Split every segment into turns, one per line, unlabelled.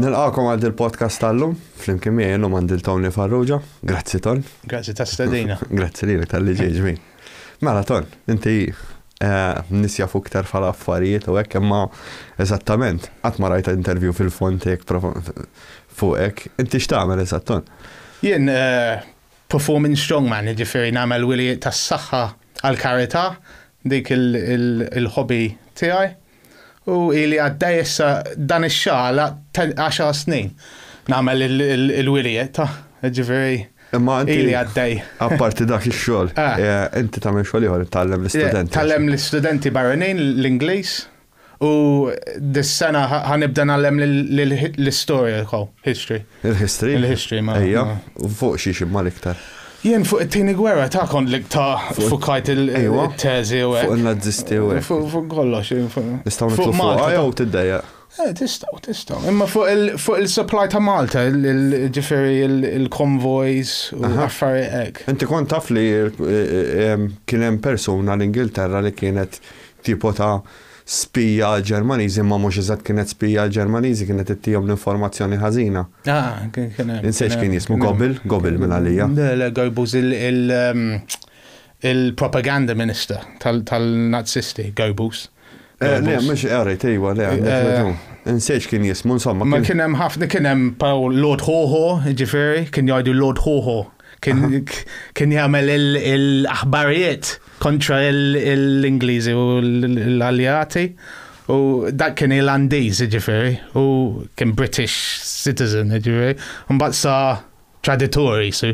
Nilqakom għal dil-podcast tal-lum, flimkien miegħi llum għandil Tony Farrugia. Grazzi Ton. Grazzi ta' stedina. Grazzi lilek tal-li ġejġmi. Mela Ton, inti eh, nisja fuq iktar fala affarijiet u hekk imma eżattament qatt ma rajta intervju fil-fontek fuqek. Inti x'tagħmel eżatt Ton? Jien eh, performing strongman, jiġifieri nagħmel wilijiet tas-saħħa għall-karità, dik il-hobby tiegħi, u ili għaddej issa dan ix-xahar għaxar snin nagħmel il-wilijiet, jiġifieri Imma inti għaddej. Apparti dak ix-xogħol, ah. eh, inti tagħmel xogħol ieħor tgħallem l-istudenti. Tgħallem l-istudenti barranin l-Ingliż. U dis-sena ħa nibda ngħallem l-istorja, history. Il-history? Il-history, ma. Ejja, fuq xiex imma l-iktar? Jien fuq it-tieni gwerra ta' kont li ta' fukajt il-teżi u hekk. Fuq in-Nazisti u hekk. Fuq kollox. Nistgħu nitlu fuq jew tiddejja? Eh, tistgħu, tistgħu. Imma fuq il-supply ta' Malta, ġifieri il-konvojs u affarijiet hekk. Inti kont taf li kien hemm persuna l-Ingilterra li kienet tipo ta' spija għall-Ġermaniżi imma mhux eżatt kienet spija għall-Ġermaniżi kienet ittihom l-informazzjoni ħażina. Ah, kien kien hemm. Insejt x'kien jismu Gobil, Gobil minn għalija. Le, le, Goebbels il- il- ehm, il-propaganda minister tal- tal-Nazisti, Goebbels. Eh, Le, Goebbels. mhux qrejt, ejwa, le, għandek Eh, raġun. Insejt x'kien jismu, insomma. Ma kien- kien hemm ħafna, kien hemm Paul Lord Hoho, ġifieri, kien jgħidu Lord Hoho. Kien jagħmel il-aħbarijiet kontra l-Ingliżi u l-Aljati. U dak kien Irlandiż, ġifiri, u kien British citizen, ġifiri. Mbagħad sa traditori, so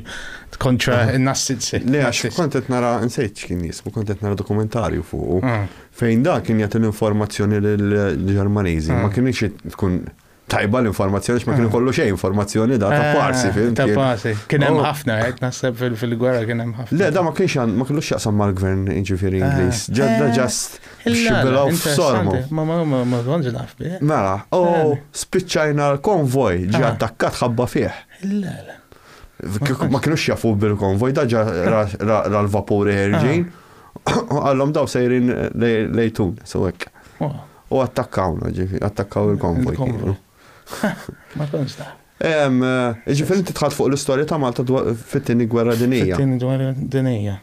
kontra n-nassizzi. Le, għax kont qed nara nsejt x'kien jismu, kont qed nara dokumentarju fuq. Ah. Fejn da kien jagħti l-informazzjoni lill-Ġermaniżi, ma ah. kienx tkun Tajba l-informazzjoni x'ma kienu ah. kollu xejn informazzjoni da ta' ah, parsi fil Ta' parsi. Kien hemm oh. ħafna qed naħseb fil-gwerra kien hemm ħafna. Le da ma kienx ma kienu x'jaqsam mal-gvern jiġifieri ah. Ingliż. Ġadda ġast eh, xibilgħu f'sormu. Ma ma ma ma konġ naf bih. Mela, u oh, eh. spiċċajna l-konvoj ġi attakkat ħabba fih. Le le. Ma kienu x'jafu bil-konvoj da ġa ra l-vapuri ħerġin. Għallhom daw sejrin lejtun, so hekk. U attakkawna, ġifi, attakkaw il-konvoj. Il-konvoj. Ma tkunx ta. Ġifi, inti tħadd fuq l-istorja ta' Malta fit-tieni gwerra dinija. Fit-tieni gwerra dinija.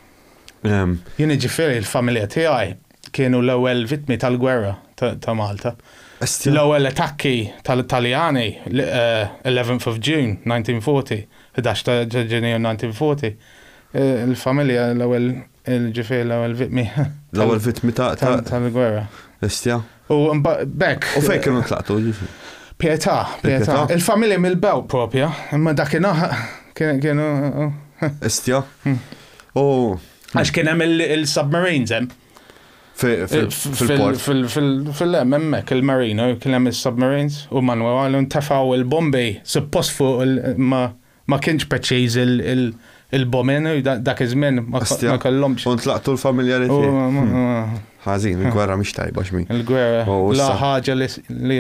Jien ġifieri l-familja tiegħi kienu l-ewwel vittmi tal-gwerra ta' Malta. L-ewwel attakki tal-Italjani, 11th of June, 1940, 11 ta' Ġunju 1940, il-familja l-ewwel Ġifieri l-ewwel vittmi. L-ewwel vittmi ta' tal-gwerra. Estja. U bekk. U fejn kienu tlaqtu ġifieri. Pietà, pietà. Il-familja mill-bew propja, imma dakinhar kienu. Estja. Hmm. U. Għax kien hemm il-submarines hemm. Fil-port. Fil-lem, emmek, il-marino, kien hemm il-submarines, u Manuel għallu ntafaw il-bombi, suppost fuq ma Ma kienx preċiż il-bomen, dak iż-żmien ma kellhomx. Kont laqtu l-familjari tiegħi. Ħażin, il-gwerra mhix tajba x'min. Il-gwerra. La ħaġa li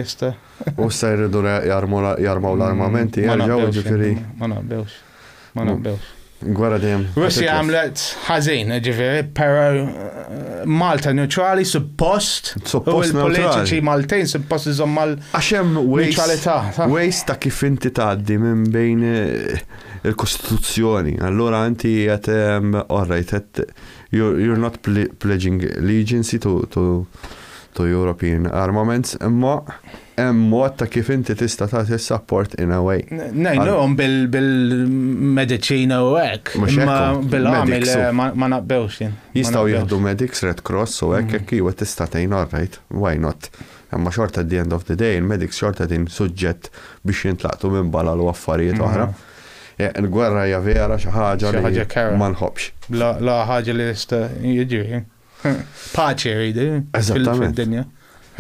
jista'. U issa jridu jarmaw l-armamenti, jarġgħu ġifieri. Ma naqbewx. Ma naqbewx. Gwerra dejjem. Russi għamlet ħażin, ġifieri, però Malta neutrali suppost. Suppost il-politiċi Maltejn suppost iżomm mal. Għax hemm ways ta' kif inti tgħaddi minn bejn eh, il-Kostituzzjoni. Allura inti qed ehm, all right, you're not pledging allegiance to, to, to European armaments, imma Hemm mod ta' kif inti tista' tagħti s-sapport in a way. Ngħinuhom bil-mediċina u hekk. Mhux hekk. Imma bil-għamil ma naqbewx jien. Jistgħu jieħdu medics, Red Cross u hekk, jekk iva tista' tgħin all right, why not. Imma xorta at the end of the day il-medics xorta qegħdin suġġett biex jintlaqtu minn balal u affarijiet oħra. Il-gwerra hija vera xi ħaġa li ma nħobbx. L-agħar ħaġa li jista' jiġri. Paċi ridi. Eżattament.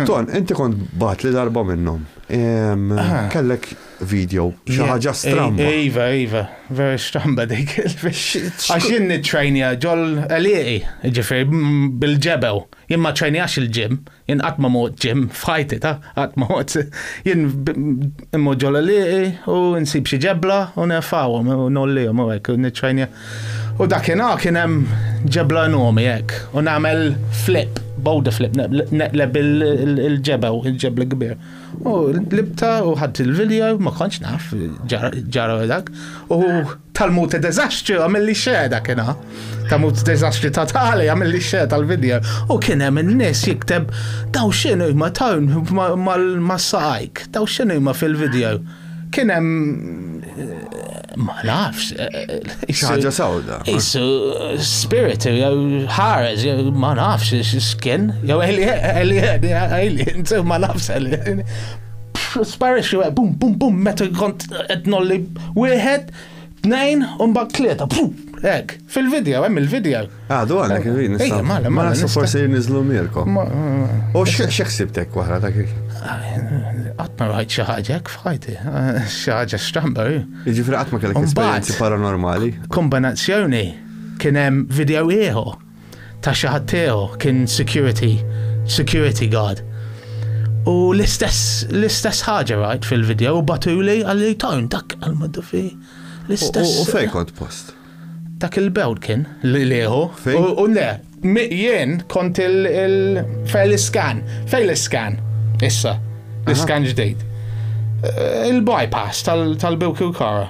Ton, inti kont bat li darba minnhom. Ah. Kellek video, xi ħaġa stramba. Iva, iva, vera stramba dik. Għax jien nitrajnija ġol għaliqi, ġifir, bil-ġebel. Jien ma trajnijax il-ġim, Jien qatt ma mort ġim f'ħajti ta' qatt ma mort. Jien immur ġol liqi u nsib xi ġebla u nerfawhom u nollihom u hekk u niċċajnja. U dakinhar kien hemm ġebla enormi hekk u nagħmel flip, body flip, neqleb il-ġebew, il-ġebla kbir. U libta u ħadd il-video ma kontx naf ġara dak. U Talmud ta' deżastri għamilli xejn dakinha. Talmud ta' deżastri ta' tali għamilli xejn tal-video. U kien hemm in-nies jikteb daw x'inhu ma tawn mas-saqajk, daw x'inhu ma fil-video. Kien hemm ma nafx. Xaġa sawda. Isu spirit jew ħares jew ma nafx x'kien. Jew alien, alien, ma nafx alien. Sparixxu bum bum bum meta kont qed nolli Wieħed, tnejn, u mbagħad tlieta. Hekk, fil-video, hemm il-video. Għadu għandek il-video nista'. Ejja, mala, mala. Nista' forsi niżlu Mirko. U x'ħsibtek wara dak il Qatt ma rajt xi ħaġa hekk f'ħajti. Xi ħaġa stramba. Jiġifieri qatt ma kellek esperjenzi paranormali. Kombinazzjoni kien hemm video ieħor ta' xi ħadd tiegħu, kien security, security guard. U l-istess, l-istess ħaġa rajt fil-video u batuli għalli tajn dak għal-maddu fi. L-istess. U fej kont post? Dak il-bewd kien li liħu. U le, jien kont il-fejl iskan, fejl iskan, issa, l-iskan ġdejt. Eh, il-bypass tal-bewk u kara.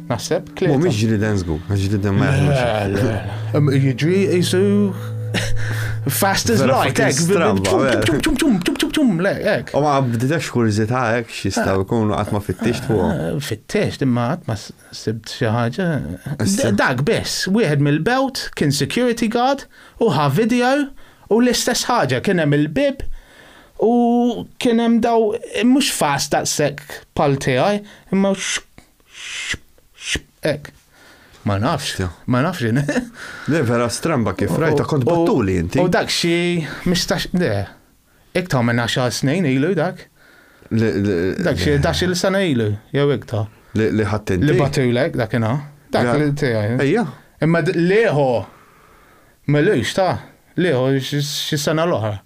Naħseb tlieta. Mhumiex ġriden żgur, għax ġriden ma jaħdmux. Jiġri jisu fast as light, ek, tum tum tum tum tum, le, ek. U ma bdidex kurzita, ek, xistaw ah. kunu għatma fit-tix tu. Ah, fit-tix, imma għatma sibt xaħġa. Dak bess, wieħed mill-belt kien security guard u ħa video u l-istess ħaġa kien hemm il-bib u kien hemm daw mhux fast daqshekk pal tiegħi, imma Ek. Ma nafx, ma nafx jien. Le vera stramba kif rajta kont battuli inti. U dak xi mistax le. Iktar minn 10 snin ilu dak. Dak xi dax il sena ilu, jew iktar. Li ħadd inti. Li batulek dak inha. Dak li tiegħi. Ejja. Imma lieħu. Melux ta' lieħu xi sena l-oħra.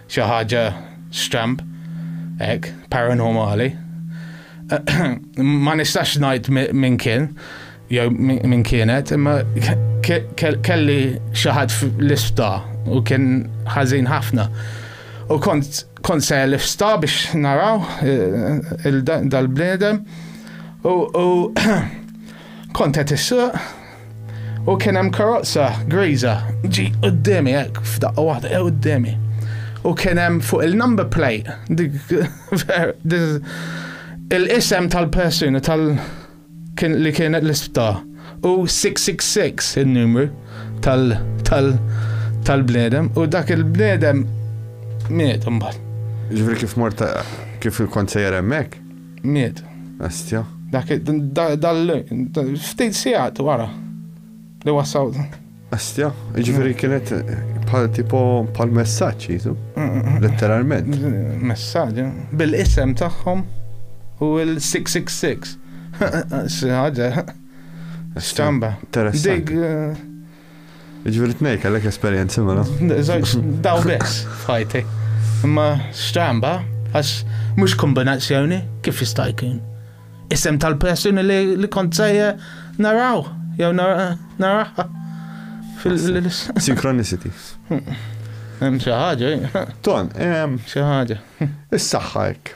Xi ħaġa stramb hekk, paranormali. Ma nistax ngħid min kien jew min kienet, imma kelli xi ħadd fl-ispta u kien ħażin ħafna. U kont kont se l-ispta biex naraw eh, dal-bniedem u kont qed issuq U kien hemm karozza griża ġi qudiemi hekk f'daqqa waħda eh, qudiemi. U kien hemm fuq il-number plate il-isem tal-persuna tal li kien l-isptar u 666 il-numru tal tal tal-bnedem u dak il-bnedem miet mbagħad. Ġifri kif morta kif kont sejjer hemmhekk? Miet. Bestia. Dak dal ftit sigħat wara li wassaw. Bestia, jiġifieri mm. kienet bħal tipo bħal messaġġ jisu. Mm, mm, Letteralment. Messaġġ. Eh? Bil-isem tagħhom u l-666. Ħaġa. Stamba. Dik eh, Ġviri t-nej, kellek esperienzi mela. Zoċ, daw bes, fajti. Imma stramba, għax mux kombinazzjoni, kif jista' jkun? Isem tal-persuni li kont sejja naraw, jew naraħħa. Synchronicity. Hemm xi ħaġa. Ton, hemm xi ħaġa. Is-saħħa hekk.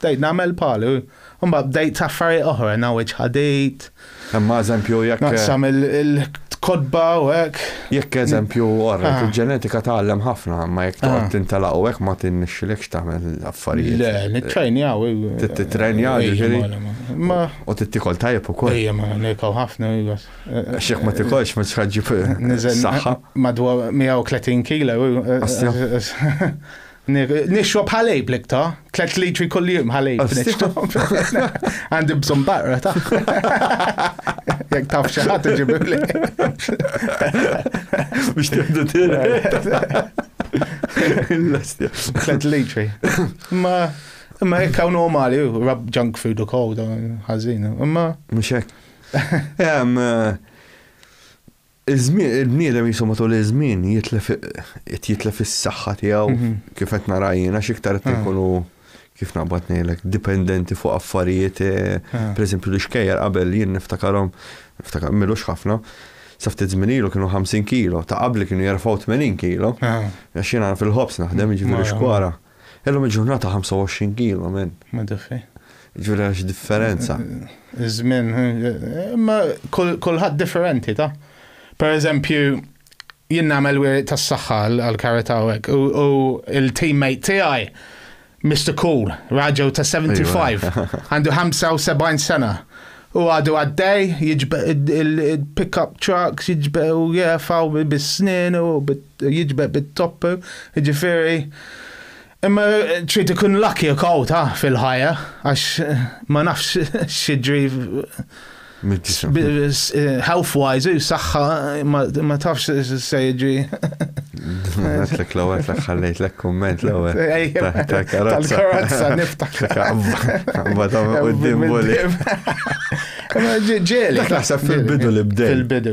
Bdejt nagħmel palu, imbagħad bdejt affarijiet oħra, ngħawweġ ħadid. Imma eżempju jekk. Naqsam il-kotba u hekk. Jekk eżempju orra, il-ġenetika tgħallem ħafna, imma jekk toqgħod tintelaq u hekk ma tinnexxilekx tagħmel affarijiet. Le, nittrejnjaw. Tittrejnjaw ġifieri. U tittikol tajjeb ukoll. Ejja, ma nirkaw ħafna. X'jekk ma tikolx ma tħaġġi saħħa. Madwar 130 kilo. Nixrob ħalib l-ikta, 3 litri kull jum ħalib nixrob. Għandi bżon barra ta' jek taf xaħat ġibib li. Biex tibdu tira. 3 litri. Ma ma jek għaw normali, rab junk food u kow, ħazin. Ma. Mux jek. Eh, Iż-żmien, il-bniedem qisu matul iż-żmien jitlef qed jitlef is-saħħa tiegħu kif qed nara jien għax iktar qed inkunu kif naqbad ngħidlek dipendenti fuq affarijiet pereżempju l-ixkejjer qabel jien niftakarhom niftakar milux ħafna sa ftit żmien ilu kienu 50 kilo ta' qabli kienu jerfgħu 80 kilo għax jiena fil-ħobż naħdem jiġifieri xkwara. Illum il-ġurnata 25 kilo minn. Ma diffi. Ġifieri għax differenza. Iż-żmien, imma kulħadd differenti ta'. Per eżempju, jien nagħmel wieħed tas-saħħa għall-karità u hekk u l-teammate tiegħi Mr. Cool, raġel ta' 75, għandu 75 sena. U għadu għaddej, jiġbe il-pick-up trucks, jiġbe u jefaw bis-snin u bit jiġbed bit-top, jiġifieri imma trid ikun lucky u kawta fil-ħajja għax ma nafx x'jiġri health wise u saħħa ma tafx se jiġri. Għatlek l għatlek ħallejt l kumment l ewwel Tal-karozza niftak. Ma ta' qudiem boli. Ġeli. Naħseb fil-bidu li bdej. Fil-bidu.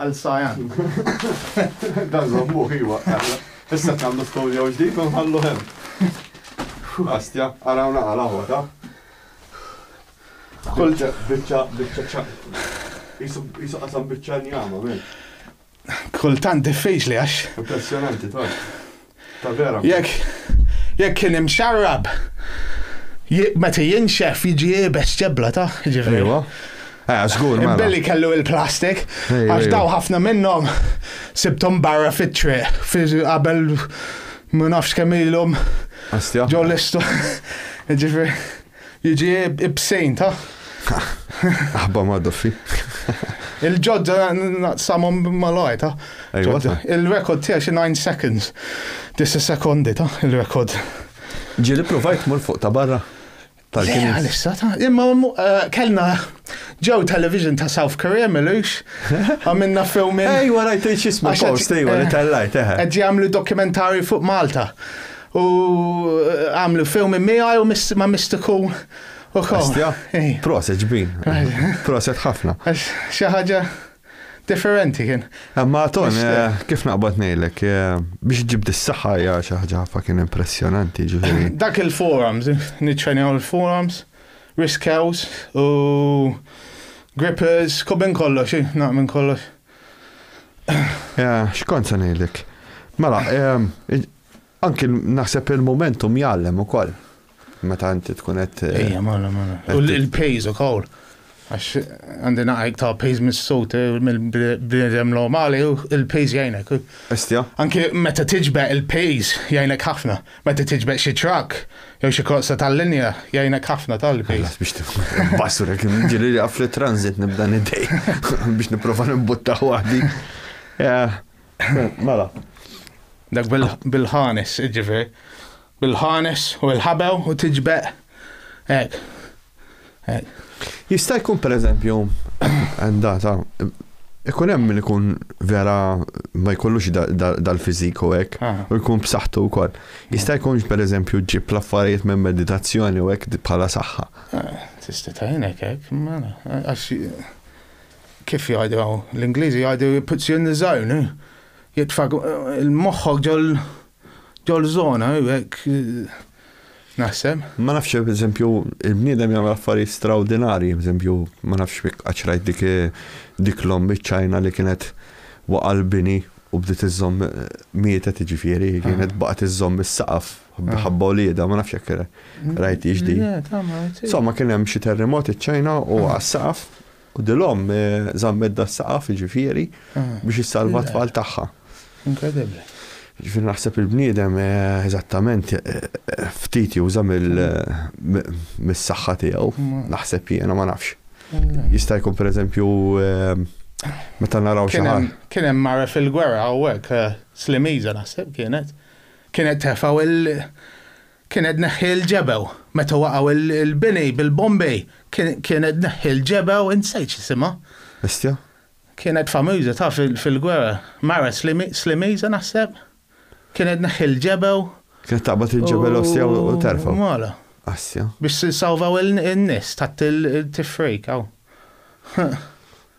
Għal Cyan. Dan żommuh, iwa. Issa qed nagħmlu studio ġdid u nħalluh hemm. Astja, ara hawn naqal aħwa ta. Kull biċċa biċċa ċa. Isu qasam biċċa njama, men. Kultant diffiċli għax. Impressjonanti, ta. Ta' vera. Jekk jekk kien imxarrab meta jinxef jiġi iebes ġebla ta' ġifieri. Ejwa. Eh, żgur mela. Billi kellu il-plastik, għax daw ħafna minnhom sibthom barra fit-triq qabel ma nafx kemm ilhom. Ġew l-istu. Ġifieri. Jiġi ibsejn ta'. Aħba ma' doffi. Il-ġodda naqsamhom malaj ta'. Il-rekord tiegħi xi 9 seconds. Disa sekondi ta' il-rekord. Ġieli provajt mur fuq ta' barra. Tal-kien. Għalissa ta' imma eh, kellna ġew television ta' South Korea milux għamilna filmin. Ej, warajt xismu post, ej, warajt eh, tal-lajt, eħe. Eh. Għed jgħamlu dokumentari fuq Malta. U għamlu fewmi miegħi u ma' Mr. Kuhn ukoll. Astja? Proset ġbin. Proset ħafna. Xi ħaġa differenti kien. Imma eh, ton, eh, kif naqbad ngħidlek, eh, biex ġib dis-saħħa hija xi ħaġa ħafna kien impressjonanti ġifieri. Dak il-forums, niċċenjaw il-forums, risk house u grippers, kobin kollox, naqmin kollox. Xkont se ngħidlek. Mela, Anki naħseb il-momentum jgħallem ukoll. Meta inti tkun qed. Eh, Ejja, mala, mala. U l-pejż ukoll. Għax għandi naqajk ta' pejż mis-sut eh, mill-bnedem normali u l-pejż jgħinek. Estja. Anki meta tiġbeq il-pejż jgħinek ħafna. Meta tiġbeq xi trak, jew xi korsa tal-linja jgħinek ħafna tal-pejż. Biex tbassur kien ġiri għaf li transit nibda nidej biex nipprova nibutta waħdi. Eh, Mela. Dak bil-ħanes, ġifieri. Bil-ħanes u l-ħabew u tiġbeq hekk. Hekk. Jista' jkun pereżempju għandata ikun hemm min ikun vera ma jkollux dal-fiżik u hekk ah. u jkun b'saħħtu wkoll. Jista' jkunx pereżempju ġib l-affarijiet minn meditazzjoni u hekk bħala saħħa. Ah, tista' tajnek hekk, mela, għax kif jgħidu hawn, l-Ingliżi jgħidu he puts you in the zone, jitfak il-moħħok ġol ġol zona, hekk naħseb. Ma nafx, per eżempju, il-bniedem jagħmel affarijiet straordinarji, per eżempju, ma nafx fik qaċrajt dik dik l-om ċajna li kienet waqa' l-bini u bdiet iżżomm mietet ġifieri, kienet ah. baqgħet iżżomm is-saqaf ah. ħabba ulieda, ma nafx jekk rajt iġdi. Insomma, kien hemm xi terremot iċ-Ċajna u għas-saqaf U dil-omm zammet da s-saqaf, jiġifieri, biex issalva t-tfal tagħha. Inkredibbli. Jiġifieri naħseb il-bniedem eżattament ftit juża mis-saħħa tiegħu, naħseb jiena ma nafx. Jista' jkun pereżempju meta naraw xi ħadd. Kien hemm mara fil-gwerra hawnhekk, Slimiża naħseb kienet, kienet tefa' Kien qed neħħi l-ġebew. Meta waqgħu l-bini bil-bombej kien qed neħħi l-ġebew insejt x'isimha. Bestia? Kienet famuża taf fil-gwerra. Mara Slimiża naħseb. Kien qed neħħi l-ġebew. Kienet taqbad il-ġebel ostja u terfgħu. Mala. Asja. Biex salvaw in-nies tat-tifrik hawn.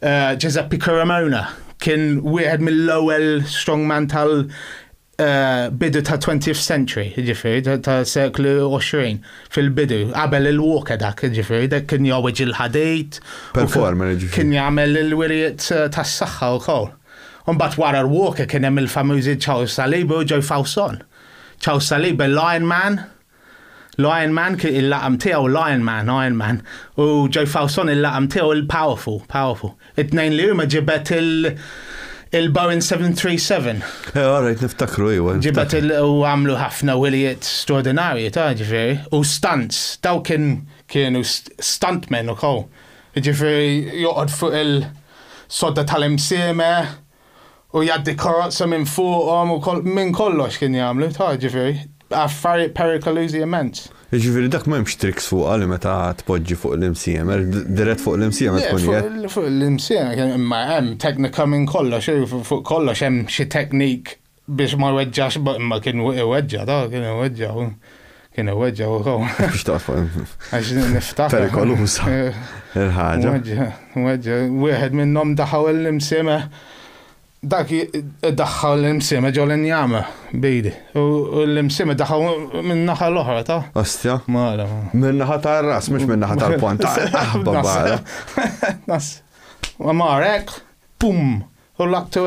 Giuseppe Caromona kien wieħed mill-ewwel strongman tal eh, bidu ta' 20th century, ġifieri ta' seklu 20 fil-bidu, qabel il-walker dak, ġifieri dak kien jowweġ il-ħadid. Performer, ġifieri. Kien jagħmel il-wirijiet eh, tas-saħħa wkoll. Imbagħad wara l-walker kien hemm il-famużi Charles Saliba u Joe Fawson. Charles Saliba l-Iron Man L-Iron Man, il-laqam tiegħu l-Iron Man, Iron Man, u Joy Fawson il-laqam tiegħu l-Powerful, Powerful. It-tnejn li huma ġibet il- il-Boeing 737. Eh, all right, niftakru, iwa. Ġibet u għamlu ħafna wilijiet straordinarji, ta' ġifiri, u stunts, daw kien kienu stuntmen u kow. Ġifiri, joqod fuq il-sodda tal-imsime, u jgħaddi karozza minn fuqhom u minn kollox kien jagħmlu, ta' ġifieri, affarijiet perikolużi immens. Jiġifieri dak m'hemmx tricks fuqha li meta tpoġġi fuq l-imsiemer, dirett fuq l-imsiemer tkun qiegħed. Le, fuq l-imsiemer, imma hemm teknika minn kollox, fuq kollox hemm xi technique biex ma jweġġax, ma kien iweġġa, ta' kien iweġġa, kien iweġġa u kaw. Biex taqfa. Għax niftaħ. Perikolusa. Il-ħagġa. Iweġġa, wieħed minnom daħaw l-imsime, dak daħħaw l-imsime ġol njama bejdi. U l-imsime daħaw minnaħa l-oħra, ta'. Ostja. Mara. Minnaħa ta' ras, mux minnaħa ta' ponta. Aħba barra. Nas. Marek, pum, u l-aktu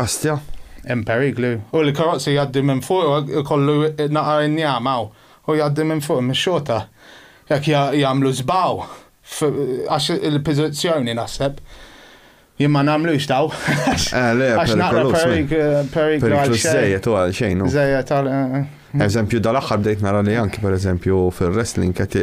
Astja, hemm periklu. U l-karozzi jgħaddi minn fuq kollu naqar injam hawn u jgħaddi minn fuq mix-xorta. Jekk jagħmlu żbaw għax il-pożizzjoni naħseb jien ma nagħmlux daw. Eh, le, għax naqra periklu għal xejn. Żejjed u għal xejn. Żejjed għal. Eżempju dal-aħħar bdejt nara li anki pereżempju fil-wrestling qed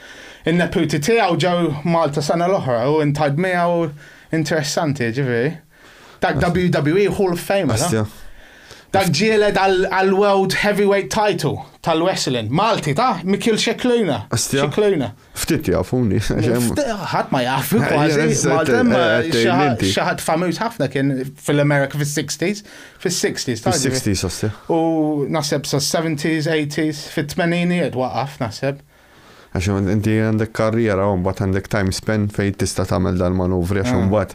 In-neputi tiegħu ġew Malta sena l-oħra u intajb miegħu interessanti, jiġifieri. Dak WWE Hall of Famer. Asja. Dak ġieled għal World Heavyweight Title tal-Wrestling. Malti, ta' Mikil Xekluna. Asja. Xekluna. Ftit jafuni. Ħadd ma jaf, kważi. Malta xaħat famiż ħafna kien fil-Amerika fil-60s. Fil-60s, ta' Fil-60s, asja. U naseb sa' 70s, 80s, fil-80s, waqaf, naseb. Għax inti għandek karriera u mbagħad għandek time span fejn tista' tagħmel dal-manuvri għax imbagħad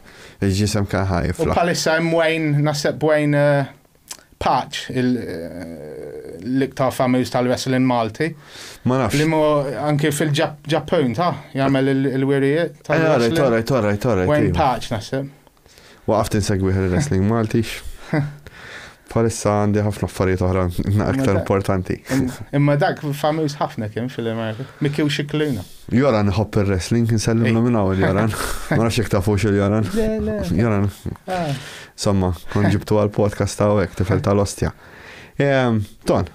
il-ġisem kien ħa jiflaħ. U bħalissa hemm Wayne, naħseb Wayne Patch, l-iktar famiż tal-wrestling Malti. Ma nafx. Li mu anki fil-Ġappun ta' jagħmel il-wirijiet tal-wrestling. Alright, alright, alright. Wayne Patch naħseb. Waqaft insegwi ħel wrestling Malti. Palissa għandi ħafna affarijiet oħra aktar importanti. Imma dak famiż ħafna kien fil-Amerika. Mikki u xiklina. Joran ħobb il-wrestling, nsellimlu minn għawel Joran. Ma nafx jek tafux il-Joran. Joran. Ah. Somma, kon ġibtu għal-podcast ta' għek, tifel tal-ostja. Ehm, ton,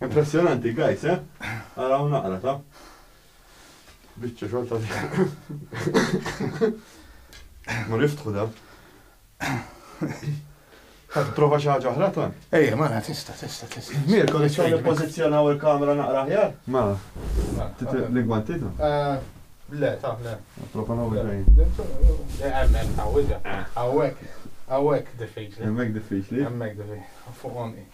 Impressjonanti guys eh? Araw naqra ta. Biċċa xogħol ta' Mur iftħu da. Ħadd prova xi ħaġa oħra ton? Ejja, mara tista' tista' tista'. Mir, kont xogħol nippożizzjonaw il-kamera naqra aħjar? Ma. L-ingwanti ta? Eh, le, ta' le. Prova naw il-lejn. Għawek, għawek diffiċli. Għawek diffiċli. Għawek diffiċli. Fuq onqi.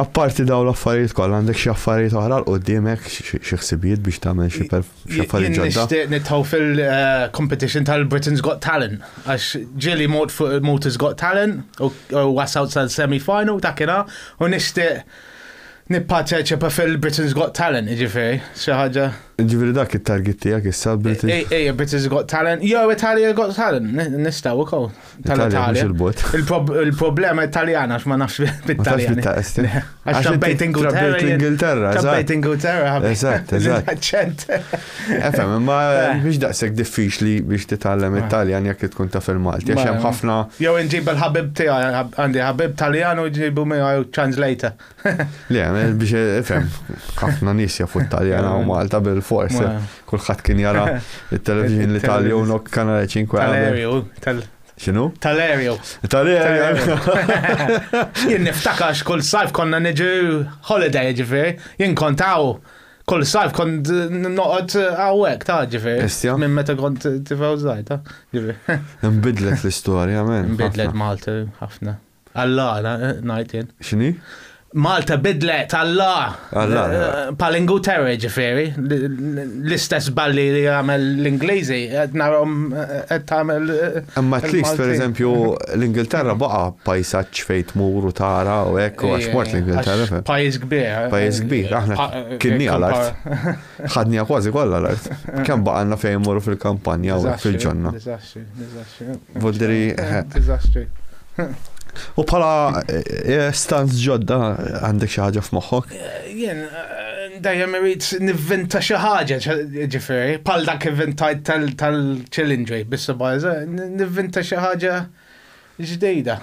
Apparti dawn l-affarijiet kollha għandek xi affarijiet oħra l quddiemek xi ħsibijiet biex tagħmel xi affarijiet ġodda. Nixtieq nitħu fil-competition eh, tal-Britain's Got Talent għax ġieli mod fuq Malta's Got Talent u wasal sal-semi final ta' kina u nixtieq nipparteċipa fil-Britain's Got Talent, ġifiri, xaħġa. Ġifiri dak il-target tijak issa British. Ej, Britain's Got Talent, jo Italia Got Talent, nistaw u kow. tal-Italja. Il-problema italjana għax ma nafx bit-Italjan. Għax trabbejt Ingilterra. Trabbejt Ingilterra. Eżatt, eżatt. Efem, ma biex eh. daqseg diffiċli biex titgħallem eh. Italjan jekk tkun taf il-Malti. Għax hemm ħafna. Jew inġib il-ħabib tiegħi għandi ħabib Taljan u ġibu miegħu translator. Le, eh, biex eh, fem, ħafna nis jafu t-Taljan u Malta bil-fors. Eh. Kulħadd kien jara il-televizjoni li tal u nok kanale 5 Tal-aereo, tal Xinu? Tal-aereo. Tal-aereo. Jien niftakax kull sajf konna niġu holiday ġifir, jien kontaw kull sajf kont noqgħod għawek ta' ġifir. Minn meta kont tifgħu żgħir ta' ġifir. Nbidlet l-istorja, men. Nbidlet Malta ħafna. Alla, ngħid jien. X'inhi? Malta bidlet, Alla! Alla! Palingutera ġifieri, l-istess balli li jagħmel l-Ingliżi, qed narhom qed tagħmel. Imma at least pereżempju l-Ingilterra baqa' pajsaġġ fejn tmur u tara u hekk u għax mort l-Ingilterra. Pajjiż kbir. Pajjiż kbir, aħna kien nieqal art. Ħadnija kważi kollha l-art. Kemm baqalna fejn immorru fil-kampanja u fil-ġonna. Diżastri, diżastri. Voldiri. Diżastri. U bħala eh, eh, stanz ġodda għandek xi ħaġa f'moħħok? Eh, jien dejjem irid nivvinta xi ħaġa, ġifieri, bħal dak ivvintajt tal-challenge biss baża, nivvinta xi ħaġa ġdejda.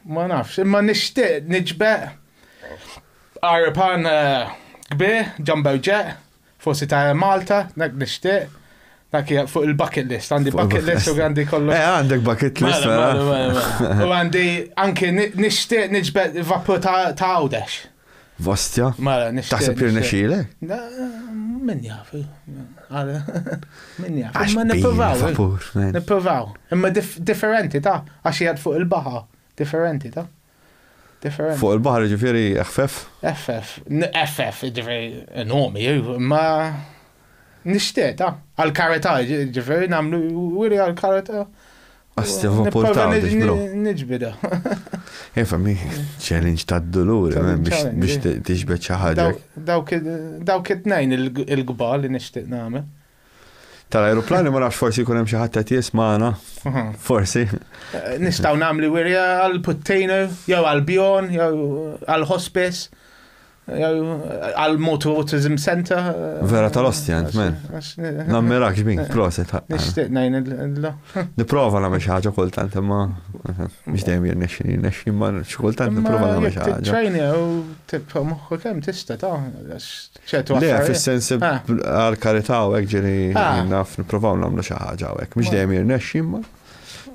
Ma nafx, imma nixtieq niġbeq Fqar pan kbir ġamberġeq forsi ta' Air Malta dak nixtieq. Dak hija fuq il-bucket list, għandi bucket list u għandi kollu. Eh, għandek bucket list. Mela, mela, mela, mela. U għandi anke nixtieq niġbed vapur ta' għawdex. Vastja? Mela, nixtieq. Taħseb li nexile? Min jaf. Min jaf. Imma nipprovaw. Nipprovaw. Imma differenti ta' għax jgħad fuq il-baħa. Differenti ta'. Differenti. Fuq il-baħar jiġifieri eħfef? Eħfef. Eħfef, jiġifieri inhom hi, imma nixtieq ta' għall-karità, jiġifieri nagħmlu wiri għall-karità. Għasti vapur ta' Niġbida. Efa, mi challenge ta' d-dolur, biex tiġbed xi ħaġa. Dawk it-tnejn il-gbar li nixtieq nagħmel. tal-ajruplani ma nafx forsi jkun hemm xi ħadd qed jismana. Mhm. Forsi. Eh, nistgħu nagħmlu wirja għal puttejna jew għal bjon jew għal hospice għal motu autism center. Eh, Vera tal-ostja, man. Eh, Nammerak xbin, proset. Nishtiq najn illa. Niprofa namel xaħġa kultant, ma biex dejjem jirnexxi, jirnexxi, ma xkultant niprofa namel xaħġa. ċajni u tibqa moħħu kem tista ta' Le, fis-sens għal karità u hekk ġieli naf nipprovaw nagħmlu xi ħaġa u hekk. Mhux dejjem jirnexxi imma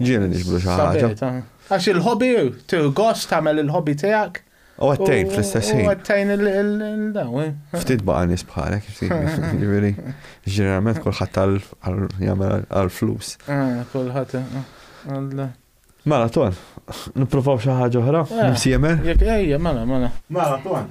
ġieli niġbru xi ħaġa. Għax il-hobby, tirgost tagħmel il-hobby tiegħek. U għattejn fl-istess ħin. U għattejn il-daw. Eh. Ftit baqa nis bħalek, ġiviri. Ġeneralment kullħat jgħamil għal-flus. Ah, kullħat. Eh, mela, ton, niprofaw xaħġa oħra, eh. nimsiemer. Ejja, mela, mela. Mela, ton.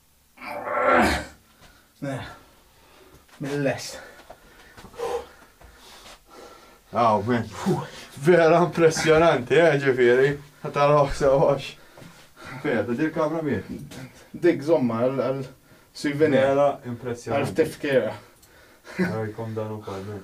Mill-lest. Aw, men. Vera impressjonanti, eh, ġifiri. Taraħ sewax. Vera, ta' dir kamra mir. Dik zomma għal-souvenir. Vera impressjonanti. Għal-tifkira. Għajkom dan u kol, men.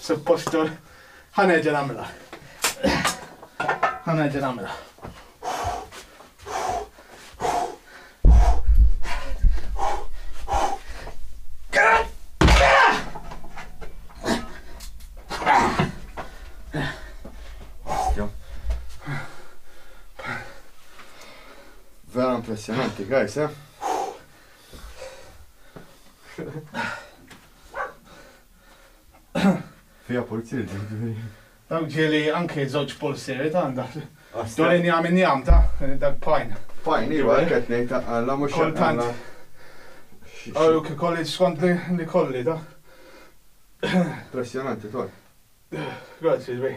Suppost ħa nerġa' nagħmilha. Ħa nerġa' nagħmilha. Vera impressionanti, guys, eh? Fiha pulzieri jiġifieri. Dak ġieli anke żewġ pulzieri ta' għandha. Ġo l-injam injam ta' dak pajn. Pajn iva hekk qed ngħid ta' Alla mhux ta' Alla. Kultant. Ara kif ikolli skont li jkolli ta'. Impressjonanti todd. Grazzi sbieħ.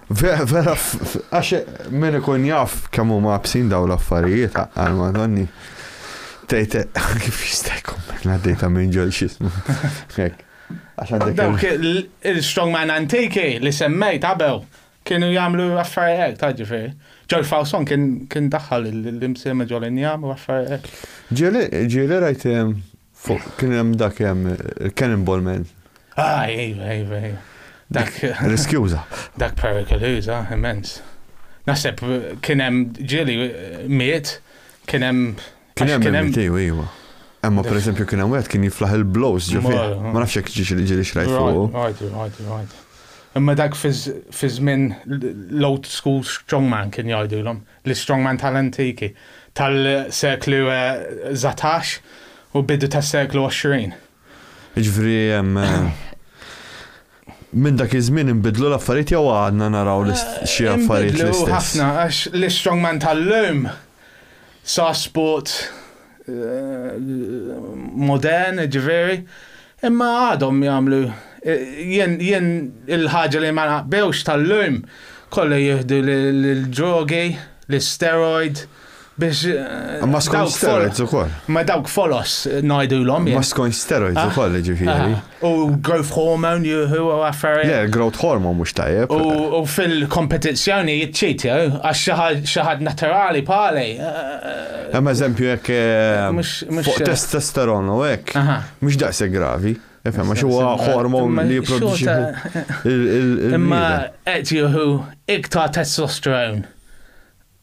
Vera, vera, għax min ikun jaf kemm huma absin daw l-affarijiet għal madonni. Tejt kif jista' jkun mela dejta minn ġol xismu. Dawk il-strongman antiki li semmejt qabel kienu jagħmlu affarijiet ta' ġifieri. Ġol Fawson kien daħħal l-imsiema ġol injam u affarijiet. Ġieli rajt Fuq kien hemm dak hemm il-cannonball man. Ah, iva, iva, iva. Dak. Riskjuża. Dak perikoluża, immens. Naħseb kien hemm ġieli miet, kien hemm. Kien hemm iva, iva. Emma per eżempju kien hemm wieħed kien jiflaħ il-blows ġifi. Ma nafx jekk ġiex li ġieli xrajt fuq. Right, right, right. Imma dak fiż-żmien l-old school strongman kien jgħidulhom. L-istrongman tal-antiki, tal-seklu satax u bidu tas-seklu għoxrin. Jiġifieri minn dak iż-żmien inbidlu l-affarijiet jew għadna naraw xi affarijiet l-istess? Inbidlu ħafna għax l-istrongman tal-lum sa sport modern, ġifieri, imma għadhom jagħmlu jien jien il-ħaġa li ma naqbewx tal-lum kollha jieħdu l-drogi, l-steroid biex. Ma skont steroids ukoll. Ma dawk folos ngħidulhom. Ma skont steroids ukoll ġifieri. U growth hormone juhu u affarijiet. Le, growth hormone mhux tajjeb. U fil-kompetizzjoni jitċit, jew, għax xi ħadd naturali bħali. Hemm eżempju jekk fuq testosteron u hekk, mhux daqshekk gravi. Ifhem, għax huwa hormon li jipproduċi. Imma qed jieħu iktar testosterone.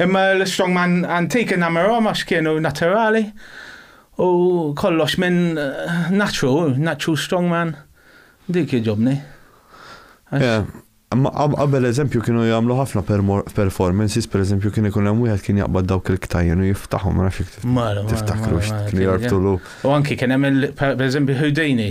Imma l-strongman antik innamirhom għax kienu naturali u kollox minn naċċu, naċċu strongman, dik jogħġobni. Imma qabel eżempju kienu jagħmlu ħafna performances, pereżempju kien ikun hemm wieħed kien jaqbad dawk il-ktajjen u jiftaħhom, ma nafx jekk tiftakrux, kienu jorbtulu. U anki kien hemm pereżempju Houdini,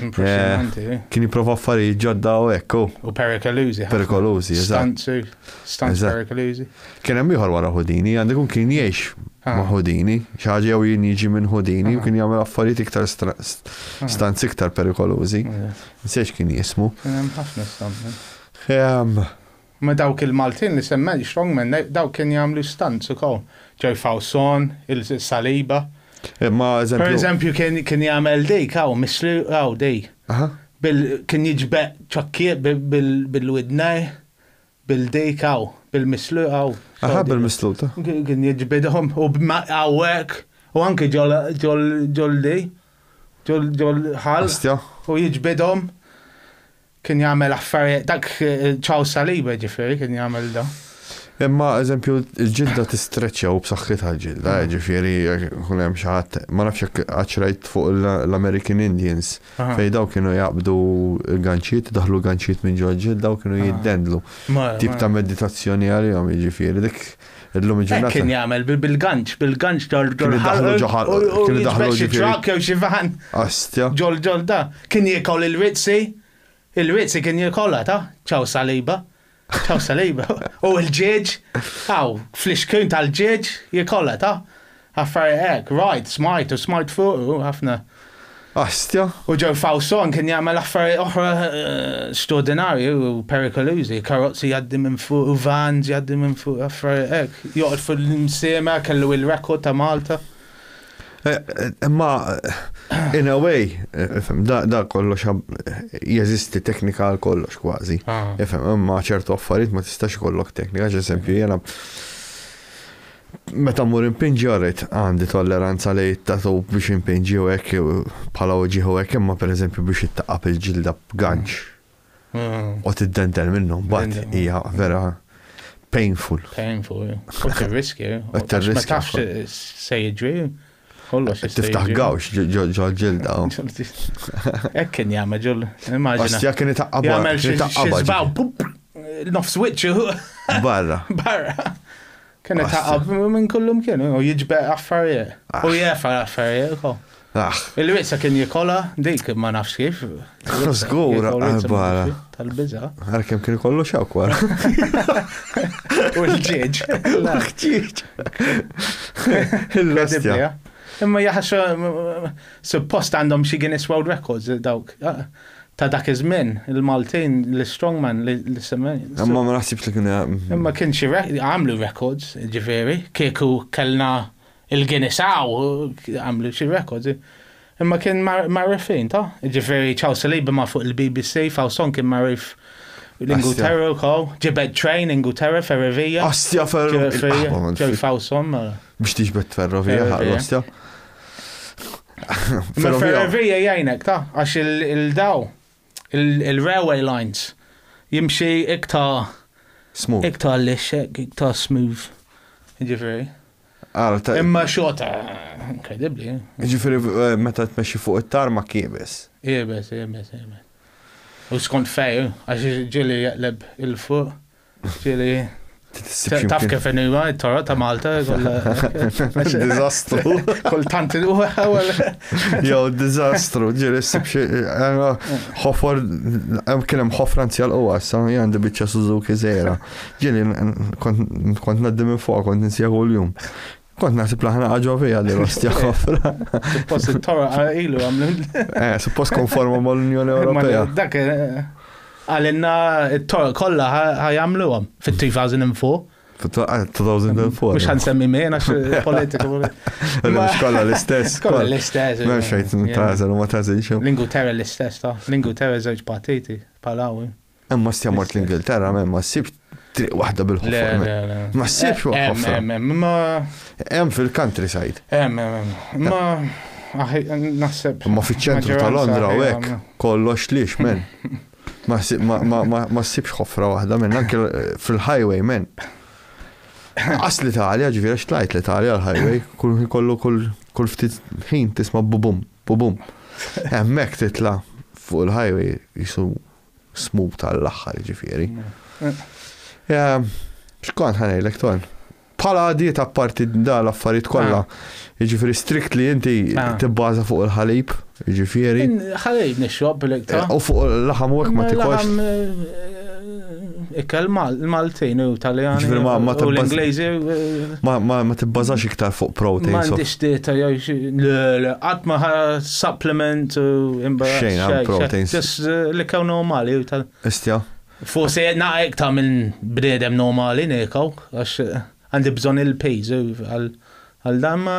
Impressionanti, eh. Kien jipprova affarijiet ġodda u hekk. Oh. U perikolużi. Perikolużi, Stanzu, stanz perikolużi. Kien hemm ieħor wara Houdini, għandu jkun kien jgħix ah. ma' Houdini, xi ħaġa jew jien jiġi minn Houdini u ah. kien jagħmel affarijiet iktar ah. stanzi iktar perikolużi. Nsejx kien jismu. Kien hemm ħafna stanzi. Ehm, Ma dawk il Maltin li semmejt strongmen dawk kien jagħmlu stunts ukoll. Joy Fawson, il Saliba. Imma eżempju. Per eżempju kien kien jagħmel dik hawn missli hawn di. Aha. Bil kien jiġbeq ċokkiet bi bil bil widnej bil dik hawn bil misslu hawn. Aha bil misslu ta. Kien jiġbidhom u b'ma hawn hekk u anki ġol ġol ġol di ġol ġol ħal. Astja. U jiġbidhom. Kien jagħmel affarijiet, dak ċaw saliba ġifieri kien jagħmel da. Imma eżempju l-ġilda tistreċċja u b'saħħitha l-ġilda, mm. ġifieri kun hemm xi ħadd ma nafx jekk qaċrajt fuq l-American Indians fejn daw kienu jaqbdu ganċiet, daħlu ganċiet minn ġol ġilda u kienu jiddendlu. Tip ta' meditazzjoni għalihom jiġifieri dik Illum il-ġurnata. Kien jagħmel bil-ganċ, bil-ganċ ġol ġol ħalq. Kien daħlu xi trak jew xi van. Astja. Ġol ġol da. Kien jikol il-witsi. Il-witsi kien jikolha ta' ċaw saliba. Ċaw saliba. U l-ġieġ. Aw, fl-ixkun tal-ġieġ jikolha ta' Affarijiet hekk, rajt, smajt u smajt fuqu ħafna. Astja. U Joe Fawson kien jagħmel affarijiet oħra straordinarji u perikolużi, karozzi jgħaddi minn fuq u vans jgħaddi minn fuq affarijiet hekk. Joqgħod fil-msiema kellu il-rekord ta' Malta. Imma in a way, da kollox jeżisti teknika għal kollox kważi. Ifhem, imma ċertu affarijiet ma tistax ikollok teknika, ġesempju jiena Meta mmur inpinġi orrid għandi tolleranza li t-tatu biex inpinġi u hekk bħala uġieħ u hekk imma pereżempju biex ittaqqab il-ġilda b'ganċ mm. u tiddendel minnhom mbagħad hija vera painful. Painful. U tirriskja. Ma tafx se jiġri. Kollox jista' Tiftaħ jiġri. gawx ġo- ġo- ġo ġilda. oh. Hekk kien jagħmel ġol. Immaġina. Ostja kien itaqqaba. Jagħmel kien xi itaqqaba xi żbaw, pup, nofs wiċċu ġi- Barra. barra. Kien Ostja. itaqab minn kullum kien, u jiġbe affarijiet. U jefa affarijiet ukoll. Ah, Il-wisa kien jikola, dik ma nafx kif. Zgur, għal-bara. Tal-biza. Għal-kem kien kollu xakwar. U l-ġieġ. L-ġieġ. Il-lastja. Imma jaħxa, suppost għandhom xie Guinness World Records dawk. Ah, ta' dak iż-żmien, il-Maltin, l-Strongman, l-Semmen. Imma ma naħsibx li kien. Imma kien xi għamlu records, ġifieri, kieku kellna Il-Guinessaw għamlu xi records, imma kien magħruf fejn ta? Ġifieri ċaw salibi ma' fuq il-BBC, Fawson kien magħruf l-Ingilterra wkoll, ġibed train Ingilterra ferrovija. Astja ferrovija. Ġew Fawson mela. Biex tiġbed ferrovija ħaqlu astja. Ferrovija jgħinek ta' għax il-daw. Il-railway lines jimxi iktar. Smooth. Iktar lixxek, iktar smooth. Ġifieri. Imma xorta, inkredibbli. Ġifieri eh, meta tmexxi fuq it-tar ma kiebes. Iebes, iebes, iebes. U skont fej, għax ġieli jaqleb il-fuq. Ġili, taf kif inima, toro ta' Malta, Dizastru. kultant u għawel. Jew dizastru, ġiri s-sib xie. Ħofor, hemm kien hemm ħofra nzjal u għassa, għandi bieċa Suzuki zera. Ġiri, kont naddi minn fuq, kont nsija kull jum. Kont naħsib laħna għagħu fija li rostja ħofra. Suppost it-tora ilu għamlu. Eh, suppost konformu mal-Unjoni Ewropea. Dak eh, għalinna it-tora kolla ħajamlu għam fit-2004. 2004. Mux għan semmi minn għax eh, politiku. Mux kolla l-istess. Kolla l-istess. Mux xejt tazel u ma tazel xo. Lingu terra l-istess ta. Lingu terra zewġ partiti. Palawi. Imma stja mort l-Ingilterra, ma ssib triq waħda bil-ħofra. Ma ssibx ħofra. Hemm fil-countryside. Hemm, hemm, Ma naħseb. Ma fiċ-ċentru ta' Londra u hekk kollox lix men. Ma ssibx ħofra waħda men, anke fil-highway men. Qas l-Italja, ġvira xtlajt l-Italja l-highway, kull kollu kull ftit ħin tisma bubum, bubum. Hemmhekk titla' fuq il-highway jisu smut għall-aħħar jiġifieri. Ehm, x'kont ħanejlek ton? Bħala għadiet apparti da l-affarijiet kollha, ah. jiġifieri strikt li inti ah. tibbaża fuq il-ħalib, jiġifieri. Ħalib nixrob l-iktar. Eh, u fuq l-laħam u ma tikolx. Eh, Ikel Maltin u Taljani. Ġifieri ma ma L-Ingliżi. Ma ma ma tibbażax iktar fuq protein. Ma għandix dieta jew xi qatt ma supplement u imbagħad. Xejn għal proteins. Just li kew normali u tal. Istja. Forsi naqra iktar minn bniedem normali nekaw għax għandi bżonn il-pejżu għal dan ma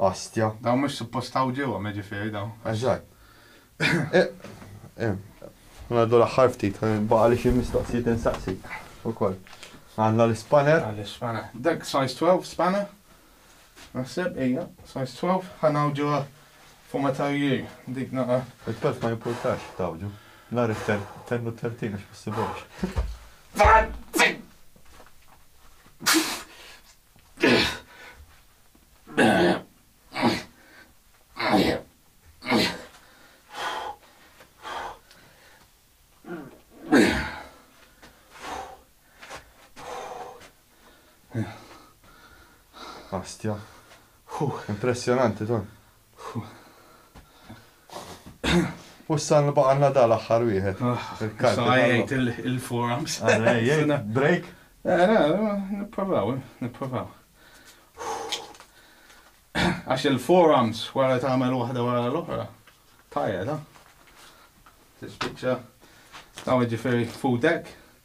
Ostja. Dawn mhux suppost hawn ġewwa ma jiġifieri dawn. Eżatt. Ngħaddu l-aħħar ftit, baqgħali xi mistoqsijiet insaqsik ukoll. Għandna l-ispanner. Għandi l-ispanner. Dak size 12 spanner. Naħseb, ejja, size 12, ħa nawġuha fuq ma tarju dik naqa. Il-12 ma jimpurtax tawġu. Nar tennu 13 għax possibux. Astja. Impressionanti, ton. U s-salm baqalna da l-aħħar wieħed. Il-kalb. Għajjajt il-forums. Għajjajt, break. Nipprovaw, nipprovaw. Għax il-forums wara tagħmel waħda wara l-oħra. Tajja da. Tispiċċa. Għaw ġifiri fudek.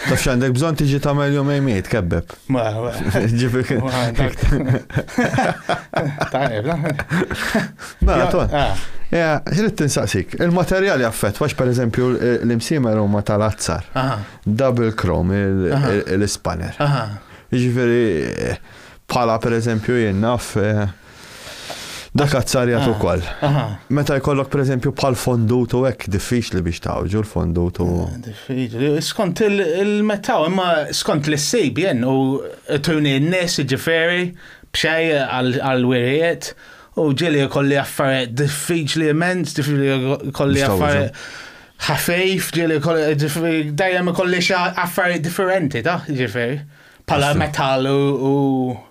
Taf x'għandek bżonn tiġi tagħmel jum ejmej tkebbeb. Ma, ma. Ġifieri. Tajjeb, Mela, to. Ah. Ja, ġrid tinsaqsik. Il-materjal jaffet, għax per eżempju l-imsimer huma tal-azzar. Double chrome, l-ispanner. Ġifieri, bħala per eżempju jien naf eh, Dak azzarjat ah, ukoll. Meta jkollok pereżempju bħal fondut u hekk diffiċli biex tawġu l-fondut u. Ah, diffiċli. Skont il-metaw, imma skont l-issib jen u tuni n-nies ġiferi b'xej għal-wirijiet u ġili kolli affarijiet diffiċli immens, diffiċli kolli affarijiet ħafif, ġili kolli dajem kolli affarijiet differenti ta' ġiferi. bħala metall u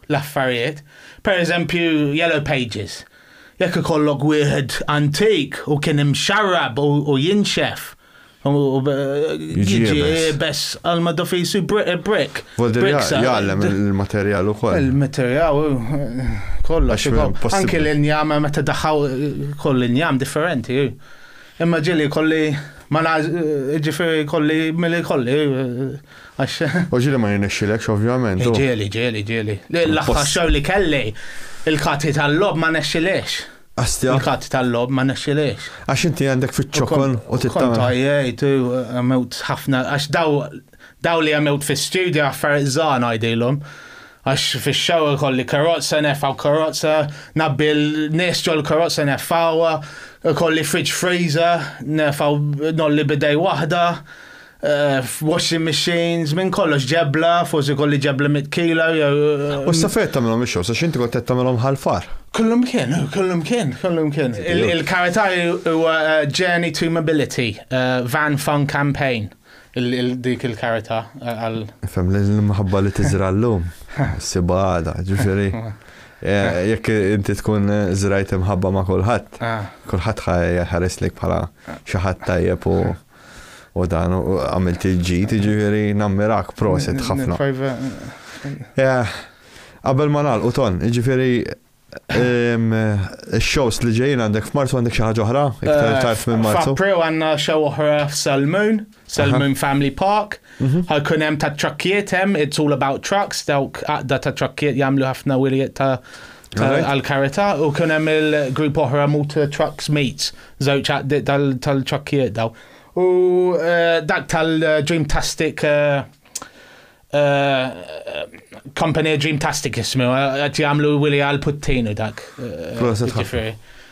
l-affarijiet. Per eżempju, Yellow Pages. Jekk ikollok wieħed antik u kien imxarrab u jinxef, Jiġi bess għal ma dofisu brick. Jgħallem il-materjal u koll. Il-materjal, kollox. Anki l-injam, meta daħħaw koll l-injam differenti. Imma ġili kolli ma ġifiri kolli mill kolli. għax. U ġieli ma jirnexxilekx ovvjament. Ġieli, ġieli, ġieli. L-aħħar xahar li kelli, il-kati tal-logħob ma nexxiliex. Astja. Il-kati tal-logħob ma nexxiliex. Għax inti għandek fiċ-ċokon u titgħallem. Kont għajjejt u għamilt ħafna għax daw daw li għamilt fis-studju affarijiet żgħar ngħidilhom. Għax fix-xewr kolli karozza nefgħu karozza, nabbi l-nies ġol karozza nefgħuha, kolli fridge freezer, nefgħu nolli bidej waħda. Washing machines, minn kollox ġebla, forsi kolli ġebla mitkila. U s-safet tamilom il-xos, għax inti għottet tamilom ħalfar. Kollum kien, kollum kien, kollum kien. Il-karataj u Journey to Mobility, Van Fun Campaign, dik il-karata għal. Fem l-mħabba li tizrallum, sibada, ġifiri. Eh, jekk inti tkun eh, zrajt imħabba ma' kulħadd, ah. kulħadd ħares lek bħala xi ħadd tajjeb u u dan u għamilt il-ġid, ġifieri nammirak proset ħafna. Eh, qabel ma nagħlqu ton, ġifieri shows li ġejjin għandek f'Marzu għandek xi ħaġa oħra? Iktar eh, tard minn Marzu. F'April għandna show oħra f'Salmoon, Salmoon Family Park. Mhm. Ħajkun hemm ta' trakkiet hemm, it's all about trucks, dawk għaqda ta' trakkiet jagħmlu ħafna wiliet ta' għal-karita u kien hemm il-grupp oħra mut trucks mates, żewġ għaqdiet tal-ċakkijiet daw. U eh, dak tal-Dreamtastic eh, eh, Company Dreamtastic jismu, għat jgħamlu Willi għal-puttin u dak. Proset ħafna.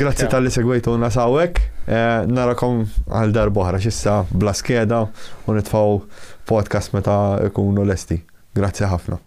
Grazzi tal-li segwejtu nasawek. Eh, narakom għal darbohra xissa bla skeda u nitfaw podcast meta ikunu lesti. Grazzi ħafna.